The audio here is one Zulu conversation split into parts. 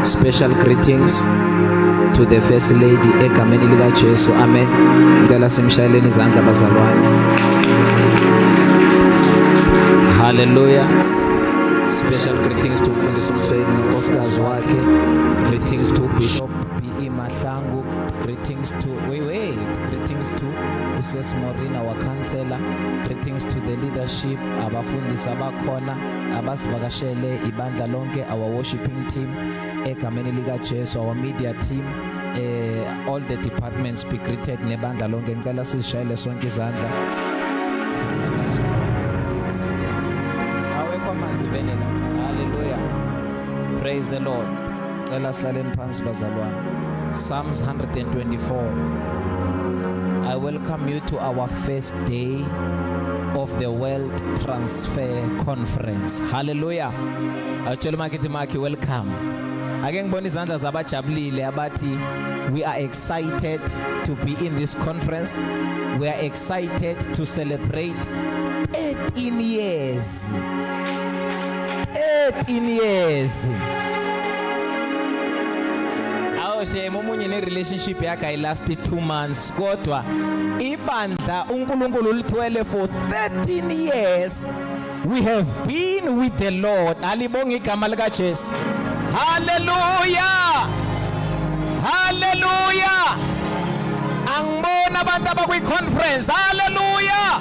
Special greetings to the first lady egameni lika Jesu. Amen. Ngicela simshayeleni izandla bazalwane. Hallelujah. Special greetings to Mfundisi Mthweni nonkosikazi wakhe. Greetings to Bishop BE Mahlangu. Greetings to wait, wait. Greetings to Uses Morina our counselor. Greetings to the leadership abafundisi abakhona. abasivakashele ibandla lonke our worshiping team egameni lika Jesu our media team eh all the departments be greeted nebandla lonke ngicela sizishayele sonke izandla awekho amanzi vele la haleluya praise the lord cela silaleni phansi bazalwane psalms 124 i welcome you to our first day of the world trans Women's Fair Conference. Hallelujah. Awutshela umakithi makhi welcome. Ake ngibona izandla zabajabulile abathi we are excited to be in this conference. We are excited to celebrate 13 years. 13 years. Awo shame umunye ne relationship yakhe i last 2 months. kodwa ibandla uNkulunkulu lithwele for 13 years we have been with the Lord alibonga igama lika Jesu hallelujah hallelujah angibona abantu abakwi conference hallelujah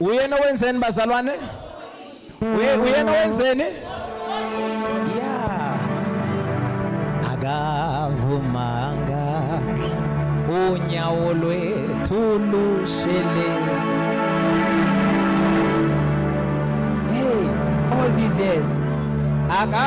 Uyena wenzeni bazalwane? Uyena wenzeni? Yeah. Akavumanga unyawo lwethu lushele. Hey, all these years. Aka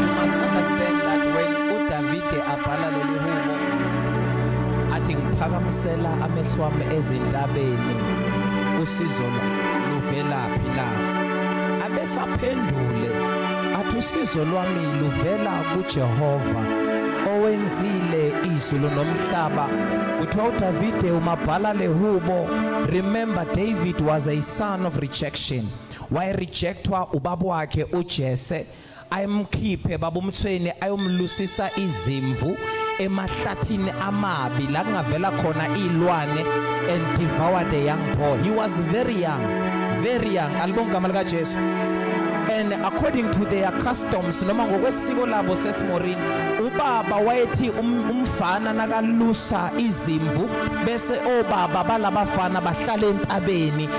You must understand that when uDavide abhala leli hubo athi ngiphakamisela amehlo ami ezintabeni usizo luvelaphi na abesaphendule athi usizo lwami luvela kuJehova owenzile izulu nomhlaba kuthiwa uDavide umabhala lehubo remember David was a son of rejection wayerejectwa ubaba wakhe uJese ayemkhiphe babumthweni ayomlusisa izimvu emahlathini amabi la kungavela khona izilwane and devour the young boy he was very young very young alibonga igama lika Jesu and according to their customs noma ngokwesiko labo sesimorini ubaba wayethi um, umfana nakalusa izimvu bese obaba balabafana bahlala entabeni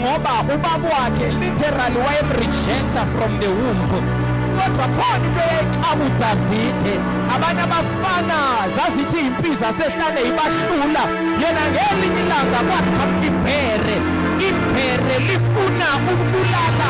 ngoba ubaba wakhe literally wayemrejecta from the womb kodwa khona into eyayixaka udavide abanye abafana zazithi impiza sehlane ibahlula yena ngelinye ilanga kwakhama ibhere ibhere lifuna ukubulala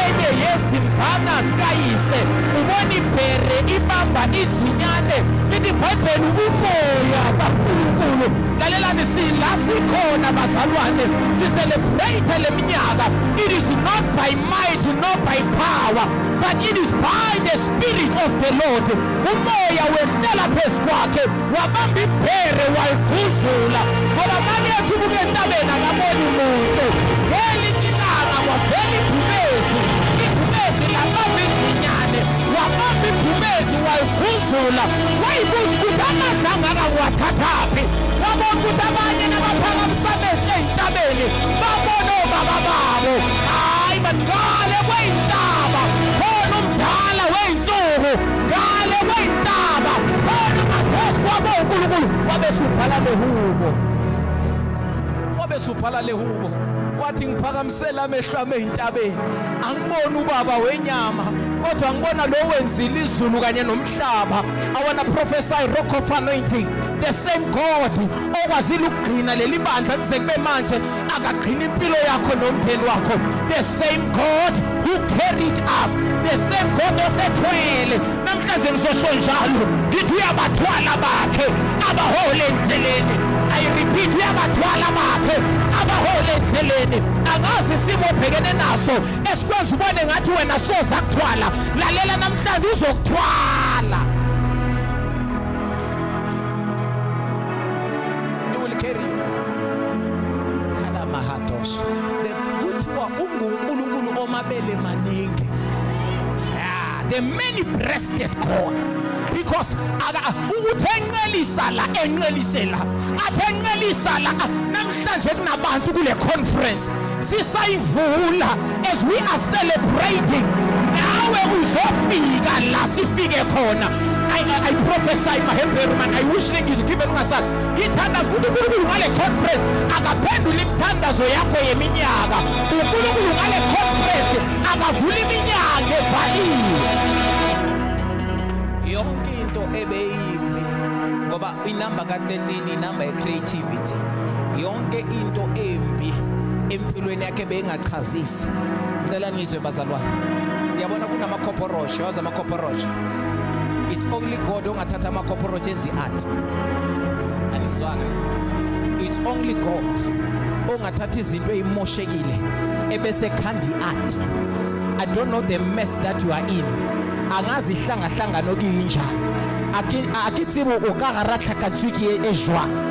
enye yezimvana zikayise ubona ibhere ibamba izinyane lithi bhayibheli umoya kakhulunkulu lalelani sila sikhona bazalwane sicelebrate le minyaka it is not by might not by power but it is by the spirit of the lord umoya wehlela phezu kwakhe wabamba ibhere waliguzula ngoba malethu buke entabeni akaboni muntu ngelinye ilanga wavela ibhubezi ibhubezi labamba inzinyane wabamba ibhubezi waliguzula wayibuza ukuthi amadla angaka ngiwathathaphi wabona ukuthi abanye nabaphakamisa amehlo ey'ntabeni babona obaba babo hhayi baqale kwey'ntaba khona umdala wey'nsuku ngale kwey'ntaba khona umathesi wabo unkulunkulu wabe subhala lehubo wabe subhala lehubo wathi ngiphakamisela amehlo ami ey'ntabeni angiboni ubaba wenyama kodwa ngibona lo wenzile izulu kanye nomhlaba umhlaba i wanna prophesy rock of anointing the same god okwazile ukugcina leli bandla kuze kube manje akagcina impilo yakho nomndeni wakho the same god who carried us the same god osethwele namhlanje ngisosho njalo ngithi uyabathwala bakhe abahole endleleni i repeat uyabathwala bakhe abahole endleleni angazi isimo obhekene naso esikwenza ubone ngathi wena soza kuthwala lalela namhlanje uzokuthwala kuthiwa ungunkulunkulu omabele maningi the many breasted god because ukuthi enqelisa la enqelise la athi enqelisa la namhlanje kunabantu kule conference sisayivula as we are celebrating nawe uzofika la sifike khona I, I, I prophesy mahembheru man I wish ngithi given ngasal ngithandaza ukuthi uNkulunkulu ngale conference akaphendula imithandazo yakho yeminyaka uNkulunkulu ngale conference akavula iminyaka evaliwe yonke into ebeyimbi ngoba inamba ka-13 inamba ye-creativity ukuthi yonke into embi empilweni yakhe beyingachazisi ngicela nizwe bazalwane yabona kunamakhoporoshi wazi amakhoporoshi it's only god ongathatha amakhoporoshi enzi art anizwana it's only god ongathatha izinto eyimoshekile ebese khandi art i don't know the mess that you are in angazi ihlangahlangano kuyinjani akitsibo o ka garatlhakatswe ke e jwang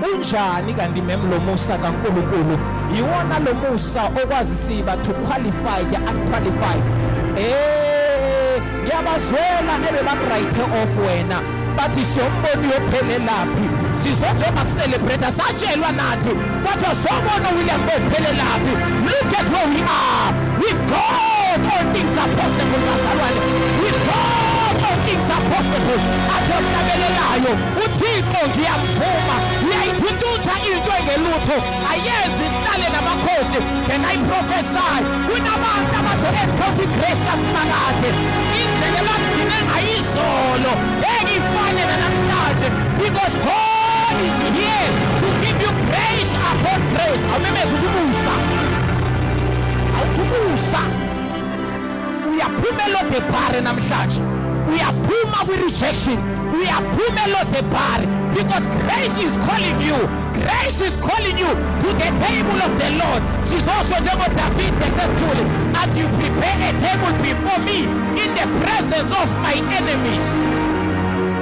Unjani kanti mem lo musa kaNkulunkulu yiwona lo musa okwazi siba to qualify ya unqualify eh ngiyabazwela ebebakuright off wena bathi siyomboni yophelelaphi sizonjengoba celebrate satshelwa nathi kodwa sobona uwilliam bophelelaphi look at where we are with god all things are possible bazalwane with god all things are possible athi ohlabelelayo uThixo ngiyamvuma uyayithututha into engelutho ayenzi ihlale namakhosi can I prophesy kunabantu abazo-encounter igrace kasimakade indlela ebagcine ngayizolo ngeke ifane nanamhlanje because God is here to give you grace upon grace awumemeza ukuthi umusa awuthi umusa uyaphuma elodebhare namhlanje uyaphuma kwi-rejection uyaphuma elodebhare because grace is calling you grace is calling you to the table of the lord sizosho njengodavide sesithule that you prepare a table before me in the presence of my enemies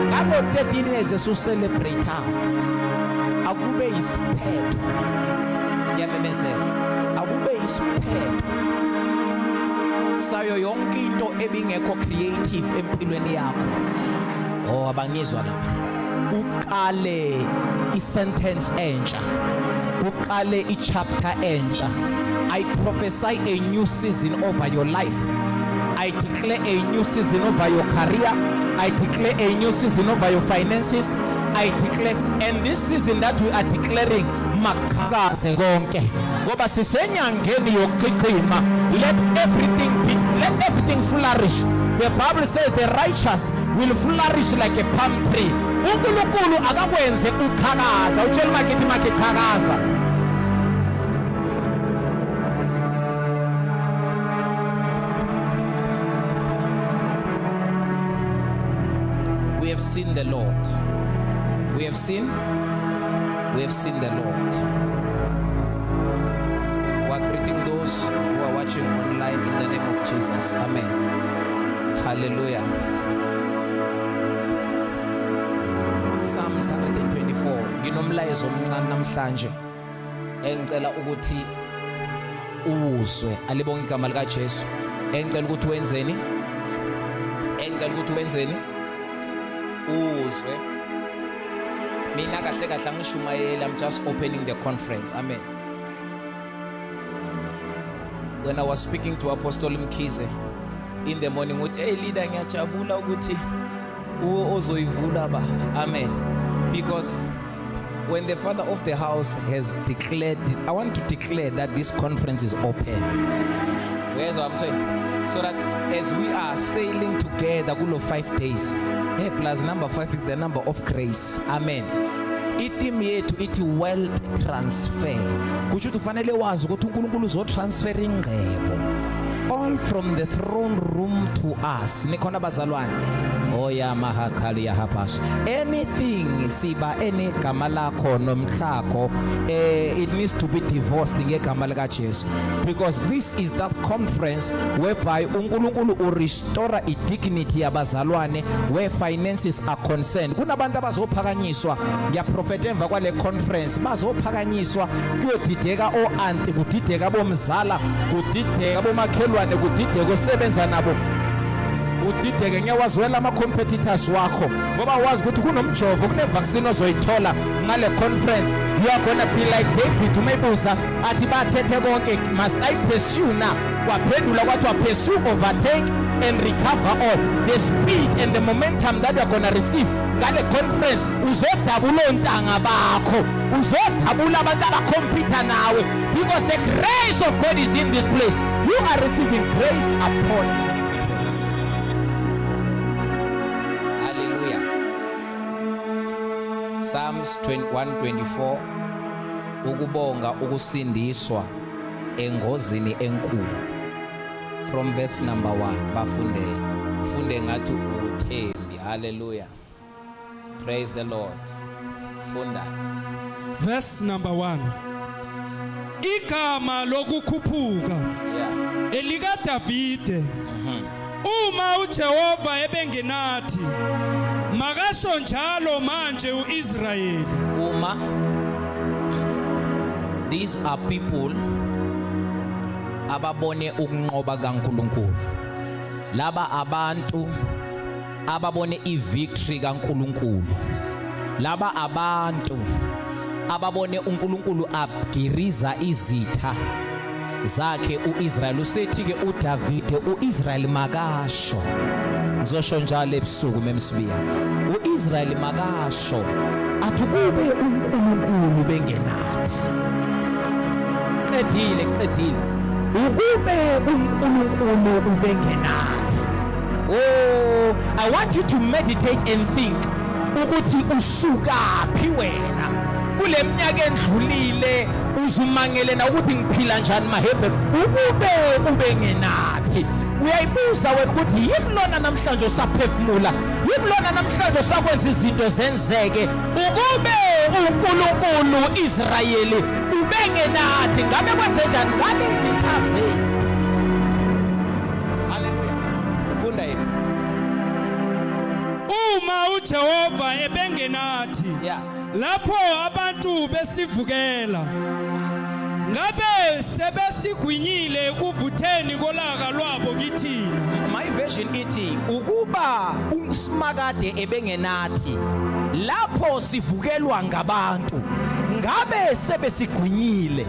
ngabo 13 years esucelebrate akube isiphetho ngiyamemezela akube isiphetho sayo yonke into ebingekho creative empilweni yakho oh abangizwa lapha uqale isentence entsha kuqale ichapter entsha i prophesy a new season over your life i declare a new season over your career i declare a new season over your finances i declare and this season that we are declaring maqhakaze konke ngoba sisenyangeni yokuchichima let everything be, let everything flourish the bible says the righteous will flourish like a palm tree unkulunkulu akakwenze uchakaza utshela umakithi makhe chakaza we have seen the lord we have seen We have seen the Lord. We are greeting those who are watching online in the name of Jesus. Amen. Hallelujah. Psalms 124 nginomlayezo omncane namhlanje engicela ukuthi uwuzwe alibonga igama likaJesu engicela ukuthi wenzeni engicela ukuthi wenzeni uzwe mina kahle kahle angishumayeli i'm just opening the conference amen when i was speaking to apostle mkhize in the morning uthi hey leader ngiyajabula ukuthi uwo ozoyivula baba amen because When the father of the house has declared, I want to declare that this conference is open. Where's what I'm saying? So that as we are sailing together, kulo five days, hey, plus number five is the number of grace. Amen. itimu yethu ithi wealth transfer kusho ukuthi ufanele wazi ukuthi uNkulunkulu uzotransfer ingcebo all from the throne room to us nikhona bazalwane oya mahakali ya hapas anything siba ene gama lakho nomhlakho eh it needs to be divorced ngegama lika Jesu because this is that conference whereby uNkulunkulu u restore i dignity yabazalwane where finances are concerned kunabantu abazophakanyiswa ngiyaprofeta emva kwale conference bazophakanyiswa kuyodideka o aunti kudideka bomzala kudideka bomakhelwane kudideka osebenza nabo udideke ngiyawazwela ama-competitors wakho ngoba wazi ukuthi kunomjovo kunevaccine ozoyithola ngale conference you are gonna be like david umebuza athi bathethe konke must i pursue na kwaphendula kwathiwa pursue overtake and recover all the speed and the momentum that you're gonna receive ngale conference uzodabula ontanga bakho uzodabula abantu abakhompyutha nawe because the grace of god is in this place You are receiving grace upon grace. Hallelujah. Psalms 21:24 Ukubonga ukusindiswa engozini enkulu. From verse number 1 bafunde. Funde ngathi uthembi. Hallelujah. Praise the Lord. Funda. Verse number 1. Igama lokukhuphuka yeah. elika Davide. Mhm. Uma uJehova ebengenathi makasho njalo manje uIsrayeli. Uma These are people ababone ukunqoba kaNkuluNkulu. Laba abantu ababone ivictory kaNkuluNkulu laba abantu ababone uNkulunkulu abgiriza izitha zakhe uIsrael usethi ke uDavide uIsrael makasho ngizosho njalo ebusuku memsibiya uIsrael makasho athi kube uNkulunkulu bengenathi qedile qedile ukube uNkulunkulu ubengenathi Oh, I want you to meditate and think ukuthi usukaphi wena kule minyaka endlulile uzumangele na ukuthi ngiphila njani mahebhe ukube ube ngenathi uyayibuza wena ukuthi yini lona namhlanje usaphefumula yini lona namhlanje usakwenza izinto zenzeke ukube uNkulunkulu Israyeli ubengenathi ngabe kwenze njani ngabe izitha zethu funda yini uma uJehova ebengenathi yeah. lapho abantu besivukela ngabe sebesigwinyile ekuvutheni kolaka lwabo kithina my version ithi ukuba umsimakade ebengenathi lapho sivukelwa ngabantu ngabe sebesigwinyile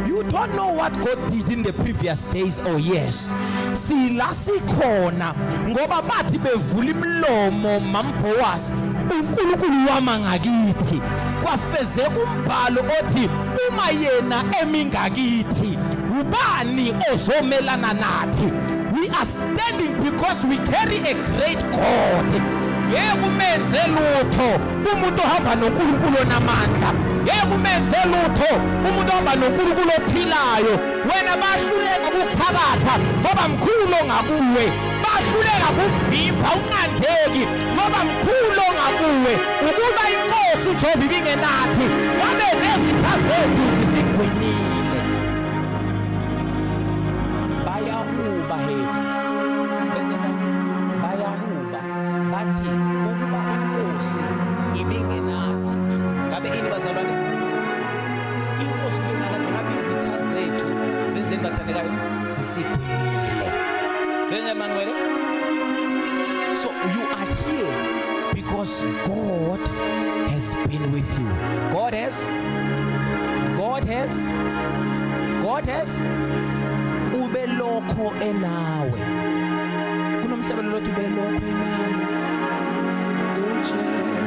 you don't know what God did in the previous days or oh years sila sikhona ngoba bathi bevula imlomo mambhowasi uNkulunkulu wama ngakithi kwafezeka umbhalo othi uma yena emingakithi ubani ozomelana nathi we are standing because we carry a great God ngeke umenze lutho umuntu ohamba noNkulunkulu onamandla ngeke umenze lutho umuntu ohamba noNkulunkulu ophilayo wena bahluleka ukuphakatha ngoba mkhulu ongakuwe bahluleka kuvimba unqandeki ngoba mkhulu ongakuwe ukuba inkosi ujehova ibingenathi ngabe nezitha zethu zisigwinyile bayahuba he bayahuba bathi ukuba inkosi ibingenathi ngabe ini bazalwane inkosi lena nathi ngabe izitha zethu zenzeni bathandekayo zisiphilile njenye manqwele so you are here because god has been with you god has god has god has ubelokho enawe kunomhlabelo lothi ubelokho enawe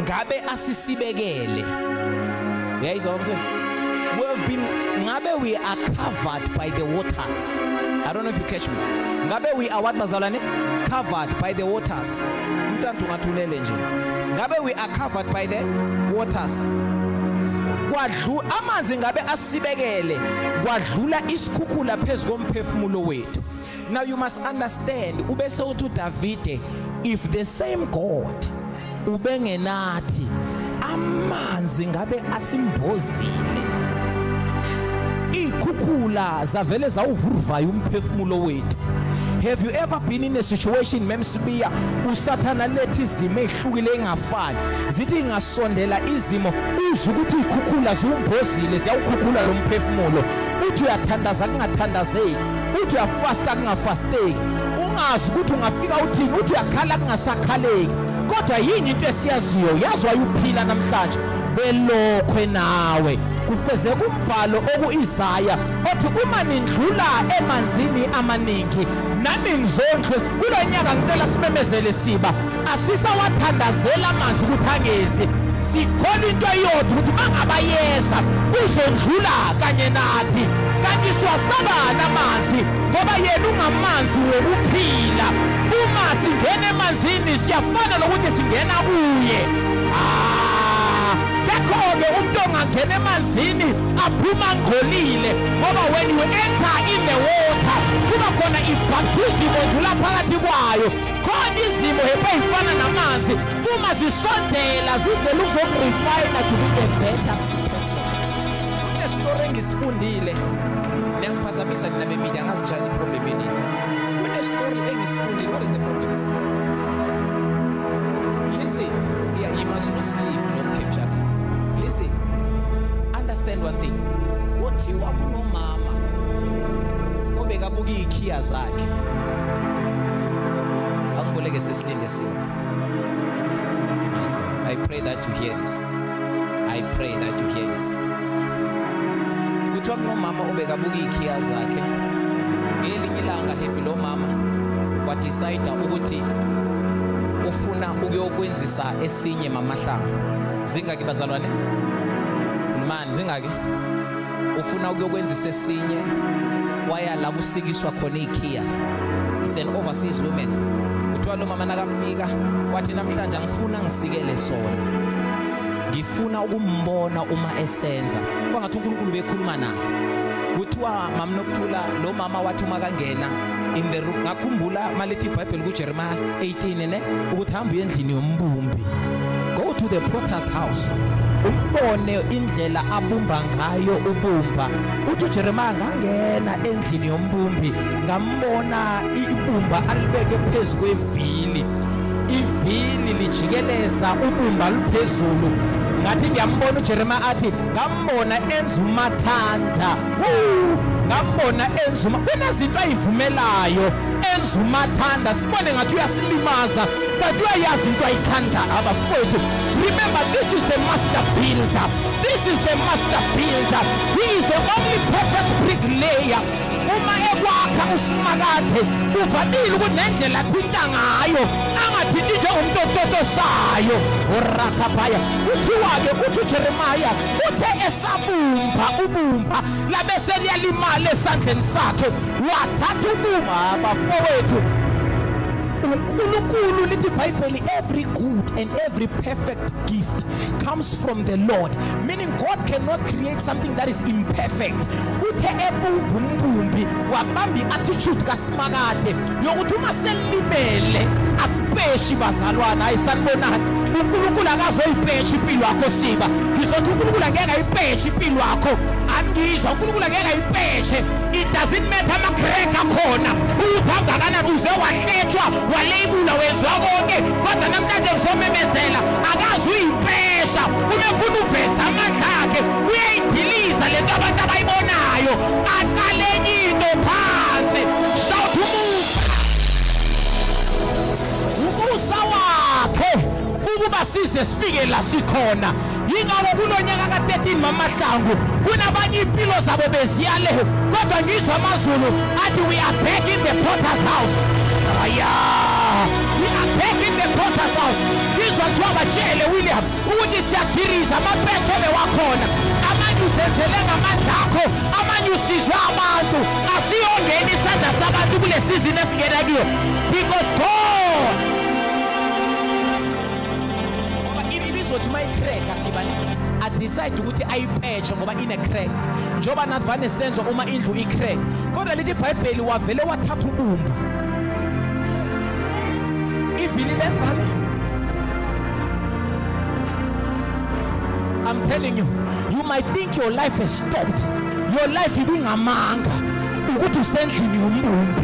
ngabe asisibekele uyayizwa ukuthi we have been ngabe we are covered by the waters i don't know if you catch me ngabe we are what bazalwane covered by the waters umntantu ngathulele nje ngabe we are covered by the waters kwadlu amanzi ngabe asibekele kwadlula isikhukhula phezu komphefumulo wethu Now you must understand ubese uthi uDavide if the same God ubengenathi amanzi ngabe asimbozile ikhukhula zavele zawuvuruvaya umphefumulo wethu have you ever been in a situation memsibiya usathana lethi izimo ehlukile engafani zithi ngasondela izimo uzwe ukuthi ikhukhula ziwumbozile ziyawukhukhula lo mphefumulo uthi uyathandaza kungathandazeki uthi uyafasta kungafasteki ungazi ukuthi ungafika uthini uthi uyakhala kungasakhaleki kodwa yini into esiyaziyo yazi wayuphila namhlanje belokhwe nawe kufeze kumbhalo okuIsaya othi uma nindlula emanzini amaningi nami ngizondle kulonyaka ngicela simemezele siba asisawathandazela amanzi ukuthi angezi sikholwa into eyodwa ukuthi bangabayeza uzondlula kanye nathi kanti siwasabani amanzi ngoba yena ungamanzi wokuphila uma singena emanzini siyafana nokuthi singena kuye ah, kekho-ke umuntu ongangena emanzini aphuma ngcolile ngoba when you enter in the water kuba khona ibhaptizim odlula phakathi kwayo khona izimo hepha ey'fana namanzi uma zisondela zizele ukuzokurifayina to be the better person kunestori engisifundile niyangiphazamisa nina bemidi angazitshali iproblem enini kunestori engisifundile what is the problem listen yeah, you must not sleep not capture listen understand one thing kuthiwa kunomama obekabuka iy'khiya zakhe Akuboleke sesilinde sini. I pray that you hear this. I pray that you hear this. Kuthiwa kunomama obekabuka iy'khiya zakhe ngelinye ilanga happy lo mama wadecide ukuthi ufuna ukuyokwenzisa esinye mamahlanga zingaki bazalwane khulumani zingaki ufuna ukuyokwenzisa esinye waya la kusikiswa khona ikhiya it's an overseas woman kuthiwa lo mama nakafika wathi namhlanje angifuna ngisikele sona ngifuna ukumbona uma esenza kwangathi uNkulunkulu bekhuluma naye kuthiwa mamnokuthula lo mama wathi uma kangena in the room ngakhumbula malithi iBhayibheli kuJeremiah 18 ne ukuthi hamba uye endlini yombumbi go to the potter's house umbone indlela abumba ngayo ubumba uthi uJeremiah ngangena endlini yombumbi ngambona ibumba alibeke phezu kwevili ivili lijikeleza ubumba luphezulu ngathi ngiyambona uJeremiah athi ngambona enza umathanda ngambona enza uma kunezinto ayivumelayo enza umathanda sibone ngathi uyasilimaza kanti uyayazi into ayithanda abafowethu remember this is the master builder this is the master builder he is the only perfect bricklayer uma ekwakha usimakade uvamile ukuthi nendlela athinta ngayo angathinti njengomuntu ototosayo urakhaphaya kuthiwa-ke uthi ujeremaya Uthe esabumba ubumba labe seliyalimala esandleni sakhe wathatha ubumba bafowethu uNkulunkulu lithi iBhayibheli every good and every perfect gift comes from the Lord meaning God cannot create something that is imperfect uthe ebumba umbumbi wabamba i-attitude ka phakade yokuthi uma selilimele asipeshi bazalwana hayi sanibonani unkulunkulu akazoyipeshi impilo yakho siba ngizothi unkulunkulu angeke ayipeshi impilo yakho angizwa unkulunkulu angeke ayipeshe it doesn't matter amagrek akhona uyuphamba kanani uze wahletshwa waleyibula wezwa konke kodwa namhlanje ngizomemezela akazi uyipesha umefuna uveza amandla akhe uyayidiliza le nto abantu abayibonayo size sifike la sikhona yingakho kulo nyaka ka-13 mamahlangu kunabanye iy'mpilo zabo beziyale kodwa ngizwa amazulu athi we are back in the porters house aya we are back in the porters house ngizwa kuthiwa batshele william ukuthi siyagiriza amapeshe bewakhona amanye uzenzele ngamandla akho amanye usizwe abantu asiyongena isandla sabantu kule sizini esingena kuyo because god izothi uma icrack asibani adecide ukuthi ayipetshe ngoba ine-crack njengoba nathi vane senzo uma indlu i-crack kodwa lithi ibhayibheli wavele wathatha ubumba ivili lenzani I'm telling you, you might think your life has stopped. Your life ibingamanga ukuthi usendlini yombumbi.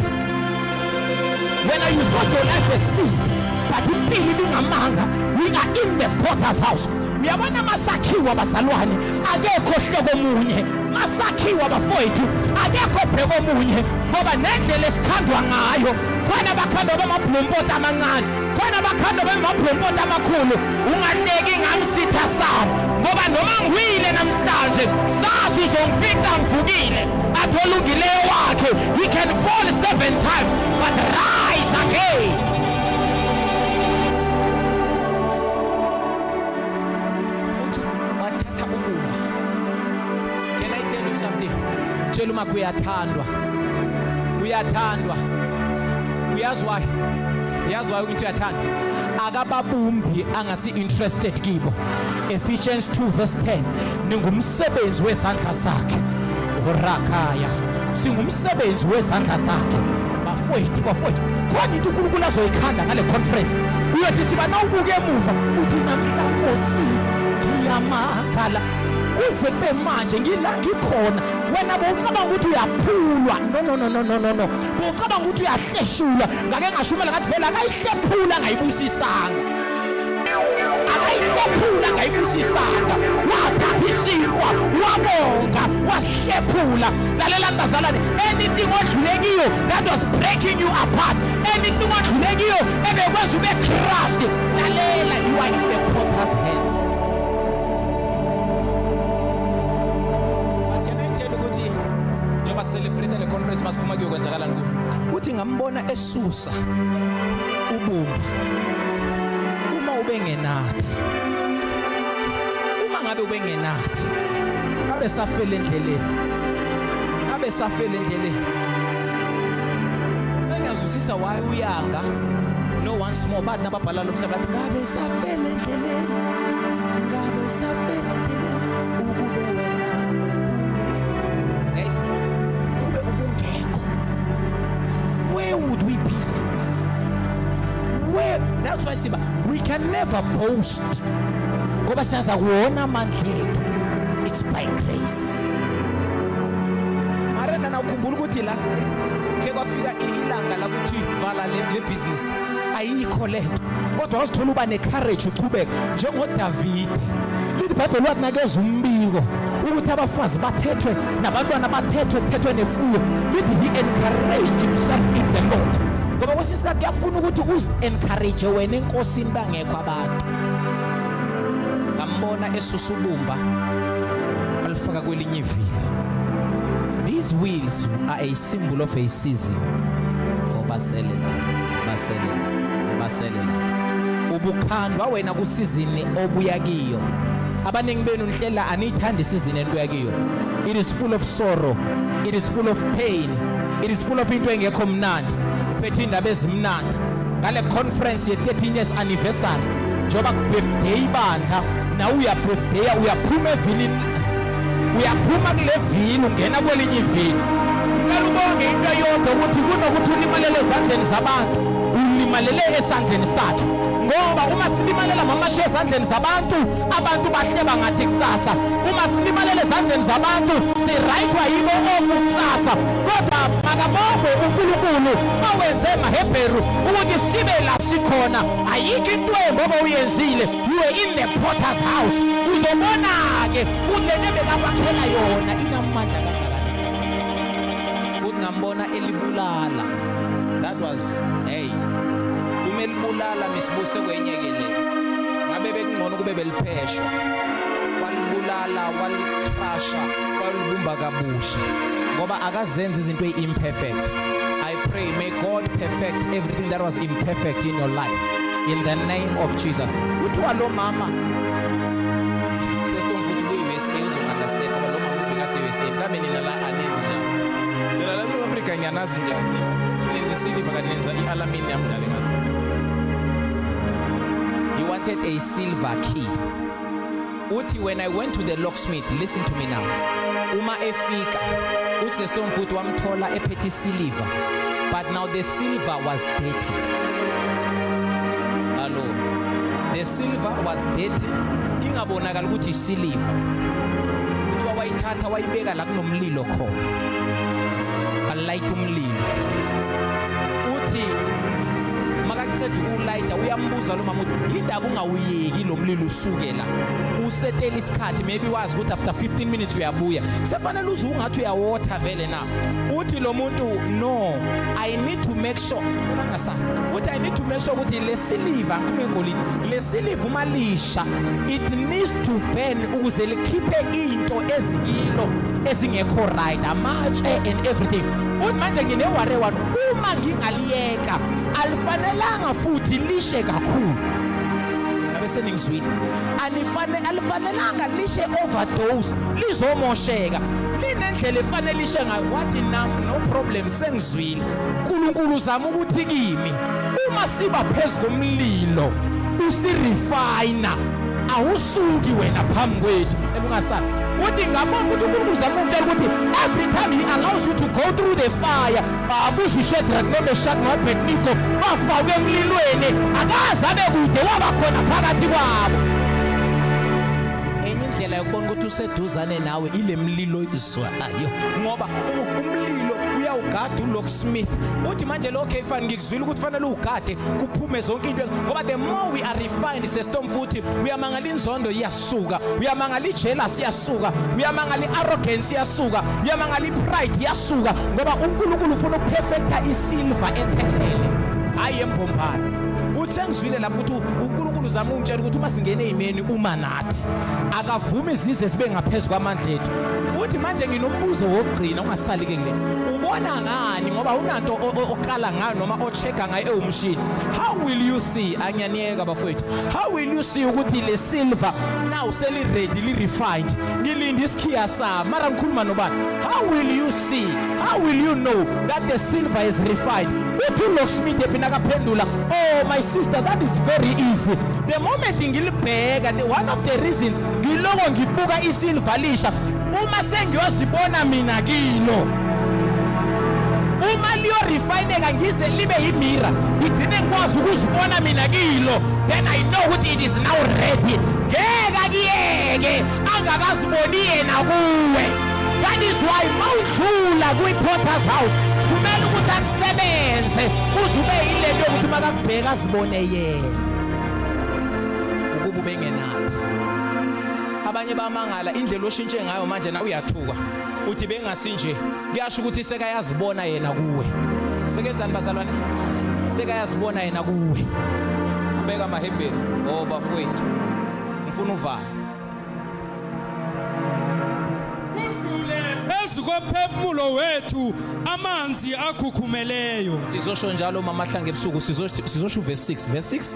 When you thought your life has ceased, but impilo ibingamanga. We are in the potter's house. Uyabona masakhiwa bazalwane, akekho hloko munye. Masakhiwa bafowethu, akekho bheko munye ngoba nendlela esikhandwa ngayo khona bakhandwa bamabhlompoti amancane khona bakhanda bemabhlompoti amakhulu ungahleki ngamsitha sabo ngoba noma ngiwile namhlanje sazi uzongifica ngivukile atholungileyo wakhe he can fall seven times but rise again tshela umakho uyathandwa uyathandwa uyazi wayo yazi wayo into uyathanda akababumbi angasi-interested kibo ephesians 2 verse 10 ningumsebenzi wezandla zakhe urakaya singumsebenzi wezandla zakhe bafowethu bafowethu khona into unkulunkulu azoyikhanda ngale conference uyothi siba nawubuka emuva uthi namhla nkosi ngiyamakhala kuze kube manje ngila ngikhona wena bowucabanga ukuthi uyaphulwa no no no no no no Ucabanga ukuthi uyahleshula ngake ngashumela ngathi phela akayihlephula ngayibusisanga. Akayihlephula ngayibusisanga. Wathatha isinkwa wabonga wasihlephula. Lalela bazalwane anything odlule kiyo that was breaking you apart. Anything odlule kiyo ebekwenza ube crushed. Lalela you are in the potter's hands. Njengoba celebrate le conference uma kuyokwenzakalani kuyo uthi ngambona esusa ubumba uma ubengenathi uma ngabe ubengenathi abe safele endleleni abe safele endleleni sengiyazwisisa why uyanga no once more bathi nababhala lo mhlaba bathi kabe safele endleleni kabe safele boast ngoba siyaza kuwona amandla ethu it's by grace mara nana ukhumbula ukuthi la ke kwafika ilanga lakuthi vala le business ayikho le nto kodwa wazithola uba necourage uchubeka njengodavide lithi ibhayibheli wakunakeza umbiko ukuthi abafazi bathethwe nabantwana bathethwe kuthethwe nefuyo lithi he encouraged himself in the lord ngoba kwesinye isikhathi kuyafuna ukuthi uzi-encourage wena enkosini bangekho abantu ngambona esusubumba alifaka kwelinye ivili these wheels are a symbol of a season baselela baselela baselela ubukhandwa wena kusizini obuya kiyo abaningi benu nihlela aniyithandi isizini enibuya kiyo it is full of sorrow it is full of pain it is full of into engekho mnandi uphethe indaba ezimnandi ngale conference ye-13 years anniversary njengoba kubirthday ibandla nawe uyabirthday uyaphuma evilini uyaphuma kule vini ungena kwelinye ivini kumele ubonge into eyodwa ukuthi kunokuthi ulimalele ezandleni zabantu ulimalele esandleni sakhe ngoba uma silimalela mamashe ezandleni zabantu abantu bahleba ngathi kusasa uma silimalela ezandleni zabantu sirayithwa yibo oku kusasa kodwa makabongwe unkulunkulu owenze emahebheru ukuthi sibe la sikhona ayikho into embi obowuyenzile You were in the potter's house. Uzobona-ke ulento ebekakwakhela yona inamandla kangakanani. Futhi ngambona elibulala. That was hey. Uma elibulala misibuse kwenye ke le. Ngabe bekungcono kube belipheshwa. Walibulala, walicrusha, walibumba kabusha ngoba akazenzi izinto eimperfect. Pray, may God perfect everything that was imperfect in your life. In the name of Jesus. Kuthiwa lo mama sesitomfuthi kuyi-USA uzo-understand ngoba lo mama ubekase-USA mhlawumbe nina la anenzi njani nina la south africa ngiyanazi njani nenza isiliva kanti nenza i-alamini yamdlale ngathi you wanted a silver key uthi when i went to the locksmith listen to me now uma efika usestom futhi wamthola ephethe isiliva but now the silver was dirty hallo the silver was dirty ingabonakala ukuthi isiliva kuthiwa wayithatha wayibeka la kunomlilo khona alayita umlilo uthi makaqeda ukulayita uyambuza lo mama uthi yindaba awuyeki lo mlilo usuke la usetela isikhathi maybe wazi ukuthi after 15 minutes uyabuya sefanele uze ungathi uyawotha vele na uthi lo muntu no i need to make sure ngasa uthi i need to make sure ukuthi le siliva ngikhuluma ngolini le siliva uma lisha it needs to burn ukuze likhiphe into ezikilo ezingekho right amatshe and everything uthi manje ngine ware one uma ngingaliyeka Cha, alifanelanga futhi lishe kakhulu. Ngabe seningizwile. Alifane alifanelanga lishe overdose, lizomosheka. Linendlela efanele lishe ngayo. Wathi nam no problem sengizwile. uNkulunkulu uzama ukuthi kimi uma siba phezulu komlilo usirefina awusuki wena phambi kwethu cela ungasali uthi ngabona ukuthi uNkulunkulu uzama ukutshela ukuthi every time he allows you to go through the fire Babuza uShadrach noMeshach noAbednego bafakwe emlilweni akaze abe kude waba khona phakathi kwabo. Enye indlela yokubona ukuthi useduzane nawe ile mlilo izwayo ngoba umlilo uyawugada uLock Smith uthi manje lo Kefan ngikuzwile ukuthi fanele ugade kuphume zonke into ngoba the more we are refined sestom futhi uyamangala inzondo iyas suka uyamangala ijealous iyasuka uyamangala iarrogance iyasuka uyamangala ipride iyasuka ngoba uNkulunkulu ufuna ukuperfecta isilva ephelele hayi embombayo uthe ngizwile lapho ukuthi uNkulunkulu uzama ungitshela ukuthi uma singene ezimeni uma nathi akavumi izize zibe ngaphezulu kwamandla ethu uthi manje nginombuzo wokugcina ungasali ke kule ubona ngani ngoba unanto oqala ngayo noma ochecka ngayo ewumshini how will you see anyaniyeka bafowethu How will you see ukuthi le silver now seli ready li refined ngilinde isikhiya sa mara ngikhuluma nobani how will you see how will you know that the silver is refined uthi ulocksmith ephina kaphendula oh my sister that is very easy the moment ngilibheka the one of the reasons ngiloko ngibuka isilver lisha uma sengiyozibona mina kilo uma liyorifayineka ngize libe yimira ngigcine ngikwazi ukuzibona mina kilo then i know ukuthi it is now ready ngeke akuyeke angakaziboni yena kuwe that is why mawudlula kwi-porters house kumele ukuthi akusebenze uze ube yilento yokuthi makakubheka azibone yena ukuba ubengenathi abanye bamangala indlela oshintshe ngayo manje na uyathuka uthi bengasinje kuyasho ukuthi sekayazibona yena kuwe sekenzani bazalwane sekayazibona yena kuwe kubeka amahebheni o oh, bafowethu ngifuna uvala phezu komphefumulo wethu amanzi akhukhumeleyo sizosho njalo mama hlanga ebusuku sizosho verse 6 verse 6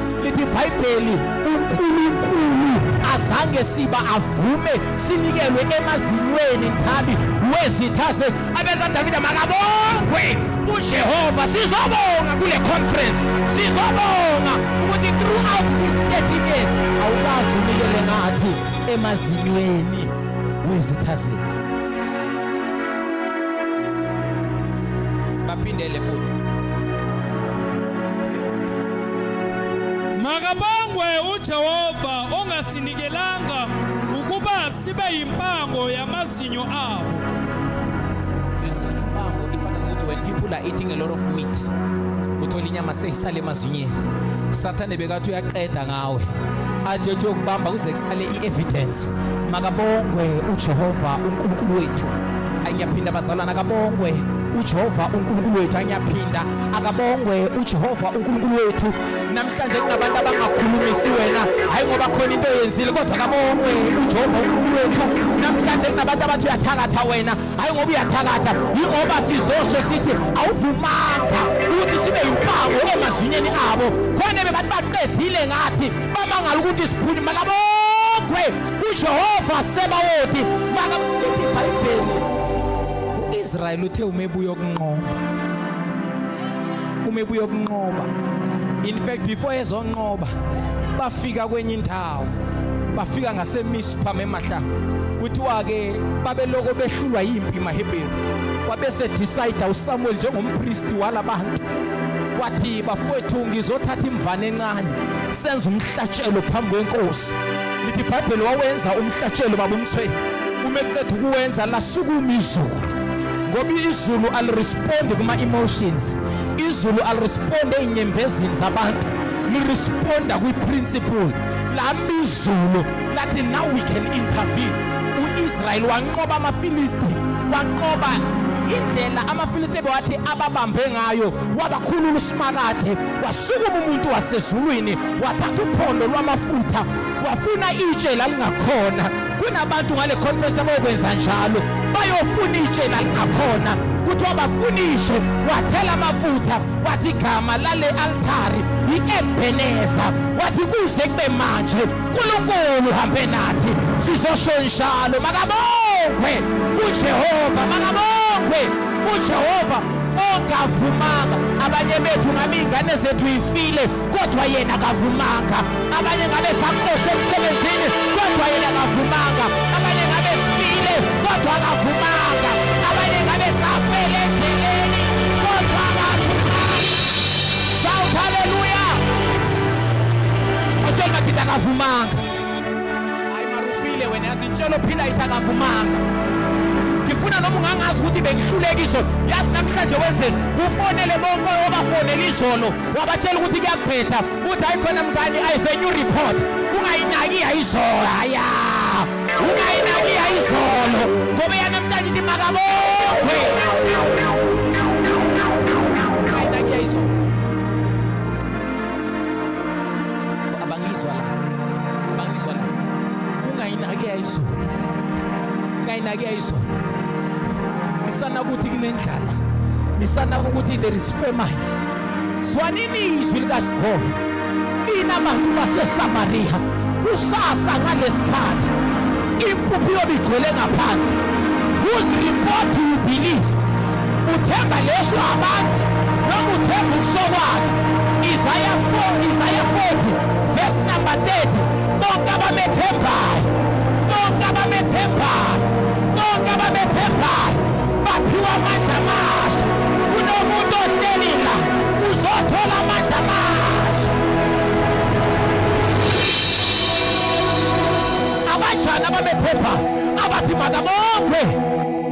lithi ibhayibheli unkulunkulu azange siba avume sinikelwe emazinyweni nthabi wezithase abeza davida makabongwe ujehova sizobonga kule conference sizobonga ukuthi throughout this 30 years awukazi unikele ngathi emazinyweni wezitha zethu baphindele futhi Makabongwe uJehova ongasinikelanga ukuba sibe yimpango yamazinyo abo. You see, impango ifana nokuthi when people are eating a lot of meat uthola inyama seyisale emazinyeni usathane bekathi uyaqeda ngawe athi ethi uyokubamba kuze kusale i-evidence makabongwe ujehova unkulunkulu wethu ayiyaphinda bazalwana kabongwe ujehova unkulunkulu wethu ayiyaphinda akabongwe uJehova uNkulunkulu wethu namhlanje kunabantu abangakhulumisi wena hayi ngoba khona into oyenzile kodwa akabongwe uJehova uNkulunkulu wethu namhlanje kunabantu abathi uyathakatha wena hayi ngoba uyathakatha yingoba sizosho sithi awuvumanga ukuthi sibe yimpango emazinyeni abo khona bebantu baqedile ngathi bamangala ukuthi siphuni makabongwe uJehova sebawoti makabongwe ibhayibheli uIsrael uthe umebuyo kunqoba uma ebuya okunqoba in fact before ezonqoba bafika kwenye indawo bafika ngasemispa memahla kuthiwa ke babeloko behlulwa yimpi mahebheru wabese decide uSamuel njengompristi walabantu wathi bafowethu ngizothatha imvana encane senze umhlatshelo phambi kwenkosi lithi ibhayibheli wawenza umhlatshelo baba umthweni uma eqeda ukuwenza lasukuma izulu ngoba izulu alirespondi kuma-emotions izulu alirespondi ey'nyembezini zabantu liresponda kwi-principle lami izulu lathi now we can intervene u-israyeli wanqoba amafilisti wanqoba indlela amafilisti bewathi ababambe ngayo wabakhulula usimakade Wasukuma umuntu wasezulwini wathatha uphondo lwamafutha wafuna itshe lalingakhona kunabantu ngale conference abayokwenza njalo bayofuna itshe lalingakhona kuthiwa bafuna ishe wathela amafutha wathi igama lale altari i-ebeneza wathi kuze kube manje nkulunkulu hambe nathi sizosho njalo makabongwe ujehova makabongwe ujehova ongavumanga abanye bethu ngabe iy'ngane zethu yifile kodwa yena kavumanga abanye ngabe saxoshe emsebenzini kodwa yena kavumanga abanye ngabe sifile kodwa kavumanga abanye ngabe safele endleleni kodwa kavumanga shout haleluya otshela madoda kavumanga Aymarufile wena yazi intshelo phila ithakavumanga. Ngifuna noma ungangazi ukuthi bengihlulekiswe. Yazi namhlanje wenzeni? Ufonele bonke obafonela izolo wabatshela ukuthi kuyakuphetha. Uthi hayi khona mngani I have a new report. Ungayinaki yayizolo. Haya. Ungayinaki yayizolo. Ngoba yanamhlanje ithi makabongwe. abangizwa la abangizwa la ungayinaki ayizulu ungayinaki ayizulu ngisana ukuthi kunendlala ngisana ukuthi there is famine zwanini izwi likajehova nina bantu basesamariya kusasa ngalesikhathi impuphu yobe igcwele ngaphandle whose report you believe Uthemba leso abantu noma uthemba ukusokwakhe. Isaya 4 Isaya 40 verse number 30 bonke abamethembayo bonke abamethembayo bonke abamethembayo baphiwa amandla amasha kunomuntu ohleli la uzothola amandla amasha abanjani abamethembayo abathi makabongwe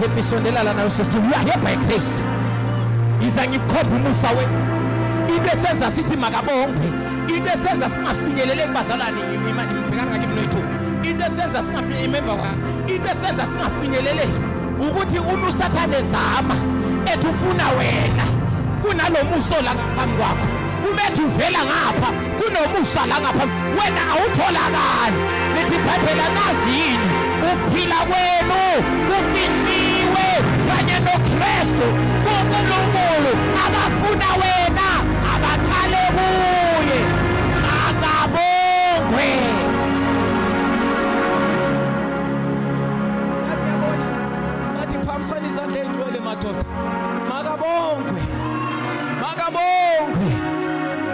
Happy sondela lana usesti uyahebha egrace yiza ngikhopha umusa we into esenza sithi makabongwe into esenza singafinyelele kubazalwane ngibhekana ngake mnoyithu into esenza singafinyelele imember kwami into esenza singafinyelele ukuthi uma usathane zama ethi ufuna wena kunalomuso la ngaphambi kwakho ubethi uvela ngapha kunomusa la ngaphambi wena awutholakali lithi ibhayibheli anazi yini ukuphila kwenu kufihliwe kanye nokristu kunkulunkulu abafuna wena abaqale kuye akabongwe akuyabona ngathi phambisana izandla ey'ngcwele madoda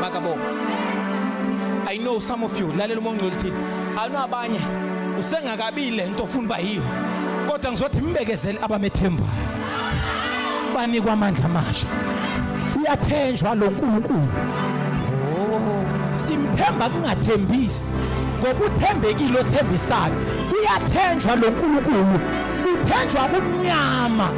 makabonga i know some of you lalela uma ungcwele uthini anu abanye usengakabi le nto ofuna uba yiyo kodwa ngizothi mbekezele abamethembayo banikwa amandla amasha uyathenjwa lo nkulunkulu oh, simthemba kungathembisi ngoba uthembekile othembisayo uyathenjwa lo nkulunkulu uthenjwa kumnyama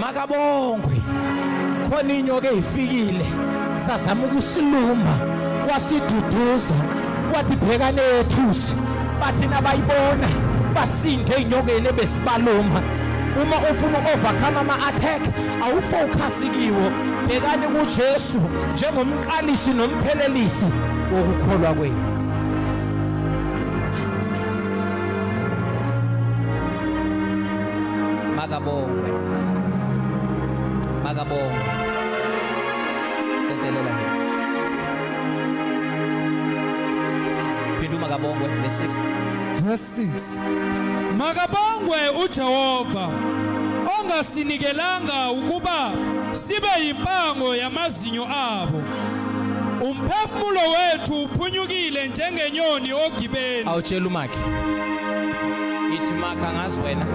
makabongwe khona inyoka eyifikile sazama ukusiluma wasiduduza wathi bhekane yethusi bathi nabayibona basinde enyokeni ebesibaluma uma ufuna ukovakhama ama-attack awufocus kiwo bhekani kujesu njengomqalisi nomphelelisi wokukholwa kwenu Makabongwe. Makabongwe. Cedelela. Phindu makabongwe verse 6. Verse 6. Makabongwe uJehova ongasinikelanga ukuba sibe yimpango yamazwe amazinyo abo umphefumulo wethu uphunyukile njengenyoni ogibeni awutshela umakhe ithi makha ngazi wena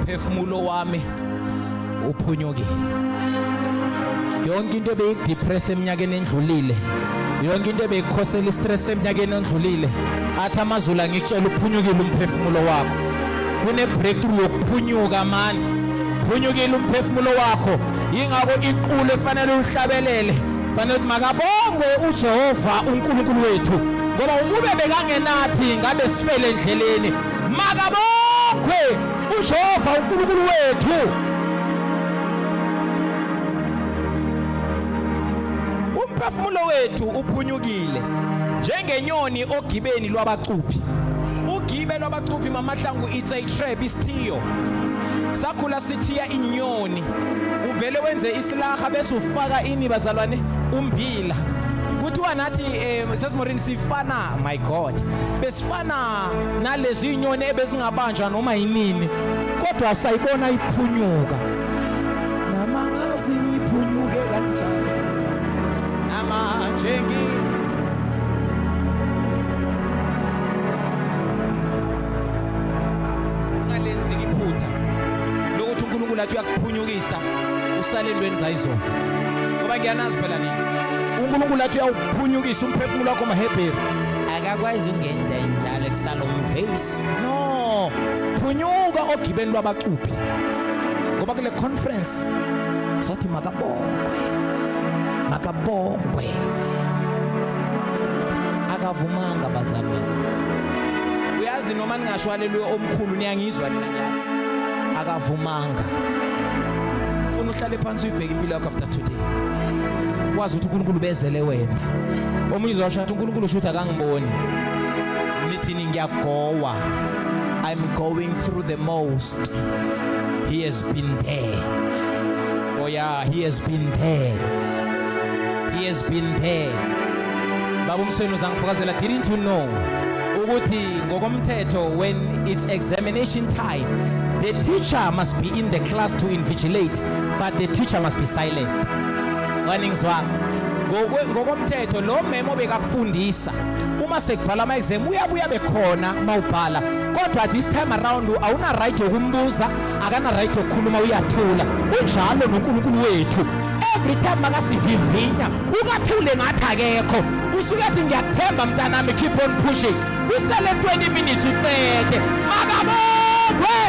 phefumulo wami uphunyukile yonke into ebeyidepress eminyakeni endlulile yonke into ebeyikhosela istress eminyakeni endlulile athi amazulu angikutshela uphunyukile umphefumulo wakho kune breakthrough yokuphunyuka mani phunyukile umphefumulo wakho yingakho iqulu efanele uhlabelele fanele ukuthi makabongwe uJehova uNkulunkulu wethu ngoba ukube bekangenathi ngabe sifele endleleni makabongwe uJehova uNkulunkulu wethu umphefumulo wethu uphunyukile njengenyoni ogibeni lwabacuphi ugibe lwabacuphi mamahlangu it's a trap isithiyo sakhula sithiya inyoni uvele wenze isilaha bese ufaka ini bazalwane umbila kuthiwa nathi um sesimorini sifana my god besifana nalezi nyoni ebezingabanjwa noma yinini kodwa sayibona iphunyuka namangazi ngiphunyuke kanjani amanje ngi ngalenzi iphutha lokuthi uNkulunkulu athi uyakuphunyukisa usale entweni zayizona ngoba ngiyanazi phela nini uNkulunkulu athi uyawuphunyukisa umphefumulo wakho maHebheru akakwazi ungenza njalo kusala umvesi no phunyuka ogibeni lwabacuphi ngoba kule conference sothi makabongwe makabongwe akavumanga bazalwane uyazi noma ningashwalelwe omkhulu niyangizwa akavumanga funa uhlale phansi uyibheke impilo yakho after today wazi ukuthi uNkulunkulu bezele wena omunye uzosho ukuthi uNkulunkulu usho ukuthi akangiboni nithini ngiyagowa i'm going through the most he has been there oh yeah he has been there he has been there baba umsweni uzangifakazela didn't you know ukuthi ngokomthetho when it's examination time the teacher must be in the class to invigilate but the teacher must be silent waningizwa ngokomthetho lo memo bekakufundisa uma sekubhala ama exam uyabuya bekhona mawubhala kodwa this time around awuna right yokumbuza akana right yokukhuluma uyathula unjalo noNkulunkulu wethu every time makasivivinya ukathule ngathi akekho usuke athi ngiyakuthemba mntanami keep on pushing kusele 20 minutes ucede makabongwe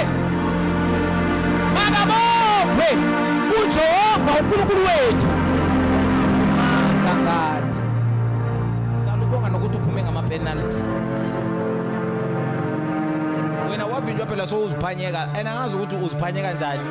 makabongwe ujehova unkulunkulu wethu mangangati salubonga nokuthi uphume ngamapenalty wena wavinjwa phela sowuziphanyeka and angazi ukuthi uziphanyeka njani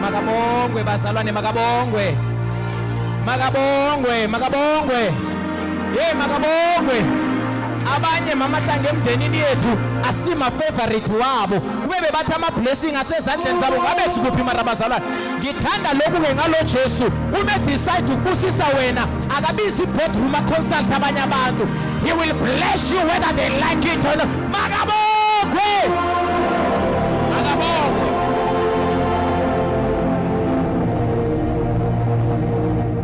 Makabongwe bazalwane makabongwe. Makabongwe makabongwe. Hey makabongwe. Abanye mama hlange emndenini yethu asima favorite wabo. Kube bebathi ama blessing asezandleni zabo ngabe sikuphi mara bazalwane. Ngithanda lokhu ke ngalo Jesu. Ume decide ukubusisa wena akabizi boardroom consult abanye abantu. He will bless you whether they like it or not. Makabokhwe! Makabokhwe!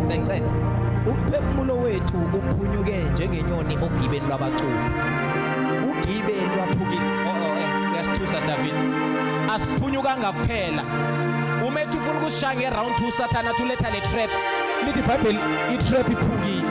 Sengiqeda. Umphefumulo wethu uphunyuke njengenyoni ogibeni lwabacubi. Ugibe lwaphukile. Oh oh eh uyasithusa David. Asiphunyukanga kuphela. Uma ethi ufuna ukusishaya ngeround 2 sathana thuletha le trap. Lithi iBhayibheli i-trap iphukile.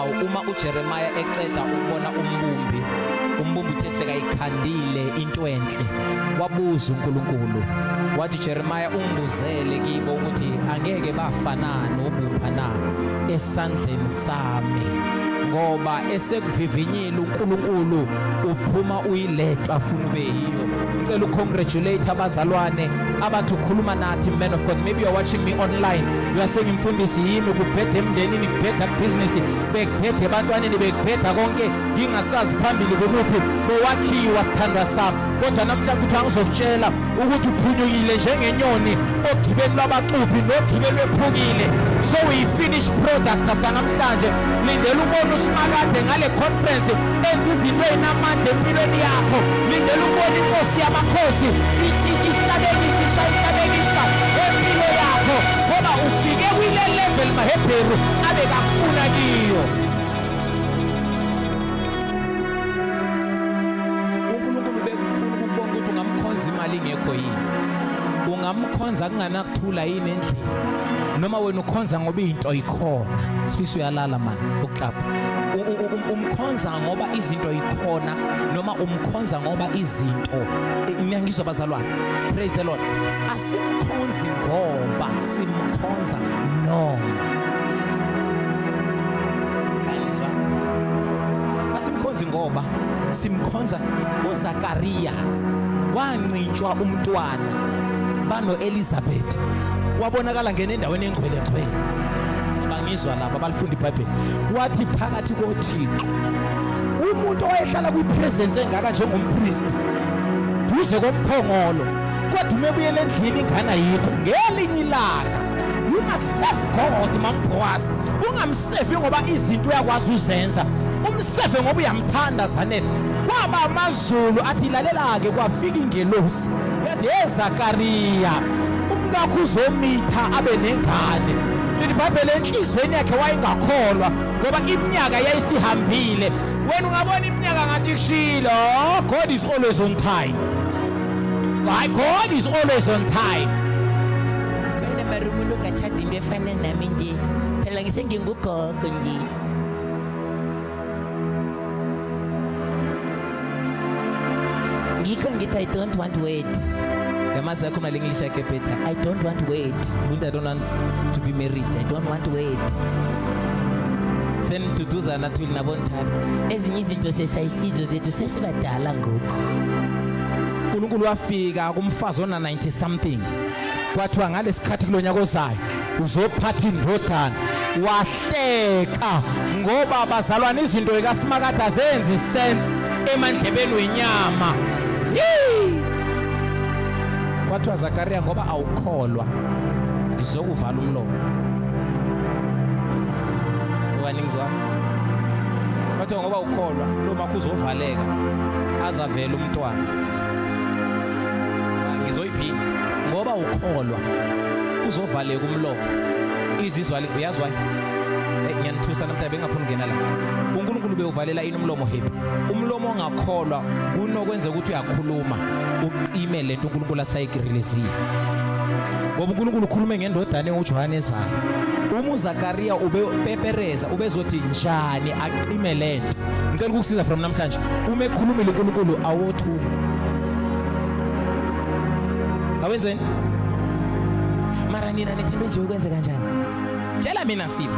Uma uJeremiya eqeda ukubona umbumbi, umbumbi uthe sekayikhandile into enhle. Wabuza uNkulunkulu, wathi Jeremiya ungibuzele kibo ukuthi angeke bafanani obupha na esandleni sami. Ngoba esekuvivinyile uNkulunkulu uphuma uyiletwa afuna ube yiyo. Ngicela ucongratulate abazalwane abathi ukhuluma nathi man of God. Maybe you're watching me online. uyasenge mfundisi yimi kubheda emndenini kubheda kubhizinisi bekubheda ebantwaneni bekubheda konke ngingasazi phambili kumuphi bowakhiwa sithandwa sami kodwa namhlanje kuthiwa ngizokutshela ukuthi uphunyukile njengenyoni ogibeni lwabacuphi nogibeni lwephukile so uyi-finish product after namhlanje lindela ubona usimakade ngale conference enza izinto ezinamandla empilweni yakho lindela ukubona inkosi yamakhosi ihlabekisa ishayihlabekisa empilo yakho ngoba ufike kwile level mahebheru abekafuna kiyo unkulunkulu bekufuna ukubona ukuthi ungamkhonza imali ingekho yini ungamkhonza kunganakuthula yini endlini noma wena ukhonza ngoba into ikhona sifisa uyalala mani uklapha umkhonza ngoba izinto ikhona noma umkhonza ngoba izinto ngiyangizwa abazalwane praise the lord asimkhonzi ngoba simkhonza noma asimkhonzi ngoba simkhonza uzakariya wancintshwa umntwana bano elizabeth wabonakala ngene endaweni engcwele ngcwele ngizwa laba balifunda ibhayibheli wathi phakathi kothixo umuntu owayehlala kwipresence engaka njengompristi duze komphongolo kodwa uma ebuyela endlini ingane ayikho ngelinye ilanga ungasefi god mambowazi ungamsefi ngoba izinto uyakwazi uzenza umsefe ngoba uyamthanda zanele kwaba amazulu athi lalela-ke kwafika ingelosi yathi ye zakariya umkakho uzomitha abe nengane Lilibhabhele enhlizweni yakhe wayengakholwa ngoba iminyaka yayisihambile. Wena ungabona iminyaka ngathi kushilo. Oh, God is always on time. My God is always on time. Kona marumulo kachadi mbefana nami nje. Phela ngisengingugogo nje. ngikho ngithi i don't want words yamazi yakho mali english yakhe bheda i don't want word umuntu i don't want to be married i don't want word seniduduzana thuli nabonthabi ezinye izinto sesayisizo zethu sesibadala ngoku unkulunkulu wafika kumfazi ona-90 something kwathiwa ngalesikhathi kulo nyaka ozayo uzophatha indodana wahle hleka ngoba bazalwane izinto ekasimakade azenzi sense emandlebeni wenyama kwathiwa zakariya ngoba awukholwa ngizokuvala umlomo okaningizwa kwathiwa ngoba ukholwa lo makho uzovaleka azavele umntwana ngizoyiphinda ngoba ukholwa uzovaleka umlomo izizwali uyazi wayo eh, ngiyanithusa namhlanje bengafuni ukungena la uNkulunkulu bewuvalela ini umlomo hip umlomo ongakholwa kunokwenza ukuthi uyakhuluma uqime lento uNkulunkulu asayigrilizile ngoba uNkulunkulu ukhulume ngendodana uJohane ezayo uma uZakaria ubepepereza ubezothi njani aqime lento ngicela ukukusiza from namhlanje uma ekhulumile uNkulunkulu awothuma awenzeni Nina nithi manje ukwenze kanjani? Tshela mina Sipho.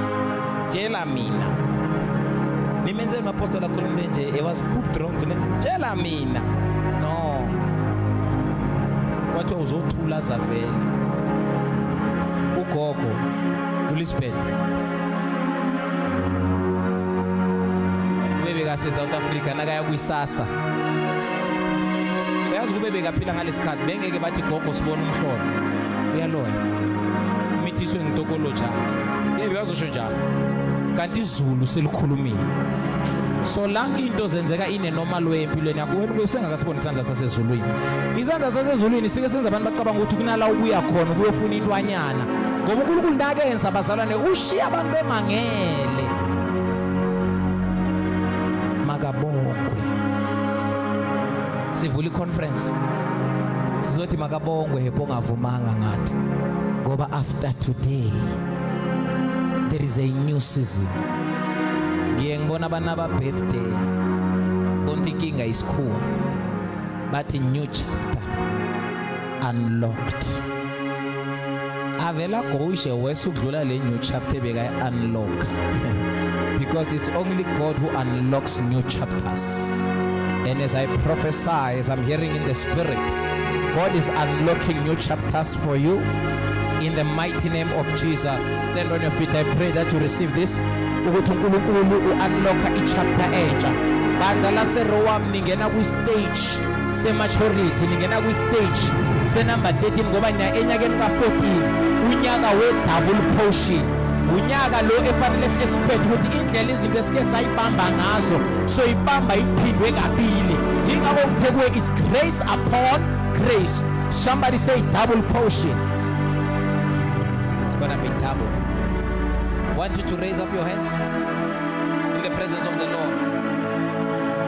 Tshela mina. Nimenzele umapostoli akhulume nje he was poop drunk ne. Tshela mina. No. Kwathiwa uzothula zavele. Ugogo uLisbeth. Bebe kase South Africa nakaya kwisasa. Uyazi kube bekaphila ngalesikhathi bengeke bathi gogo sibona umhlolo. uyaloya umithiswe ngitokolo jake yebo yazosho njalo kanti izulu selikhulumile so lanke into zenzeka ine normal way empilweni yakho wena usengakasiboni isandla sasezulwini isandla sasezulwini sike senza abantu bacabanga ukuthi kunala ubuya khona ukuyofuna intwanyana ngoba uNkulunkulu nakenza abazalwane ushiya abantu bemangele makabongwe sivula iconference sizothi makabongwe hepo ongavumanga ngathi ngoba after today there is a new season ngiye ngibona abana ba birthday bonke inkinga isikhuwa bathi new chapter unlocked avela gowushe wese udlula le new chapter bekayi-unlock because it's only god who unlocks new chapters and as i prophesy as i'm hearing in the spirit god is unlocking new chapters for you in the mighty name of jesus stand on your feet i pray that you receive this ukuthi unkulunkulu u-unlocka i-chapter entsha bandla laserowam ningena kwi-stage sematurity ningena kwistage senumber 13 ngoba niya enyakeni ka-14 unyaka we-double potion unyaka lo efanele si-expect ukuthi indlela izinto esike sayibamba ngazo soyibamba iphindwe kabili yingakho ngithe kuwe it's grace upon grace somebody say double potion it's gonna be double I want you to raise up your hands in the presence of the lord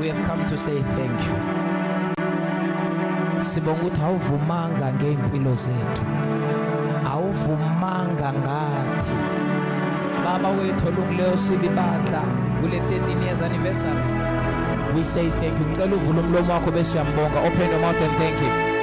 we have come to say thank you sibonga ukuthi awuvumanga ngey'mpilo zethu awuvumanga ngathi baba wethu olungileyo silibandla kule 13 years anniversary we say thank you ngicela uvula umlomo wakho bese uyambonga open your mouth and thank him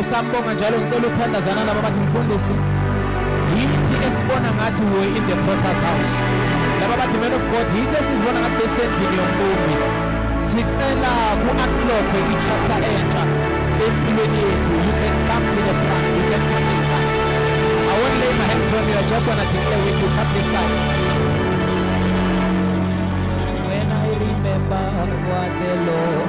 Usambonga njalo ngicela uthandazana laba bathi mfundisi yithi esibona ngathi we in the potter's house laba bathi man of God yithi esizibona ngathi besendlini yombumbi sicela ku-unlockwe i-chapter entsha empilweni yethu you can come to the front you can come this side I won't lay my hands on you I just want to declare with you come this side When I remember what the Lord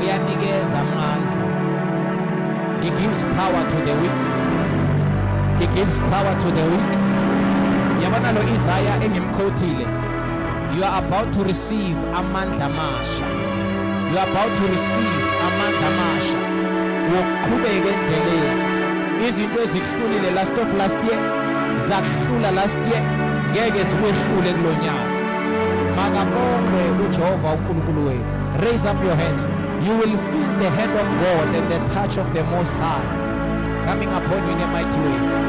uyanikeza amandla he gives power to the weak he gives power to the weak yabona lo Isaya engimkhotile you are about to receive amandla amasha you are about to receive amandla amasha wokuqhubeka endleleni izinto Hlulile last of last year zakuhlula last year ngeke sikwehlule kulonyaka makabongwe uJehova uNkulunkulu wenu raise up your hands you will feel the hand of God and the touch of the most high coming upon you in a mighty way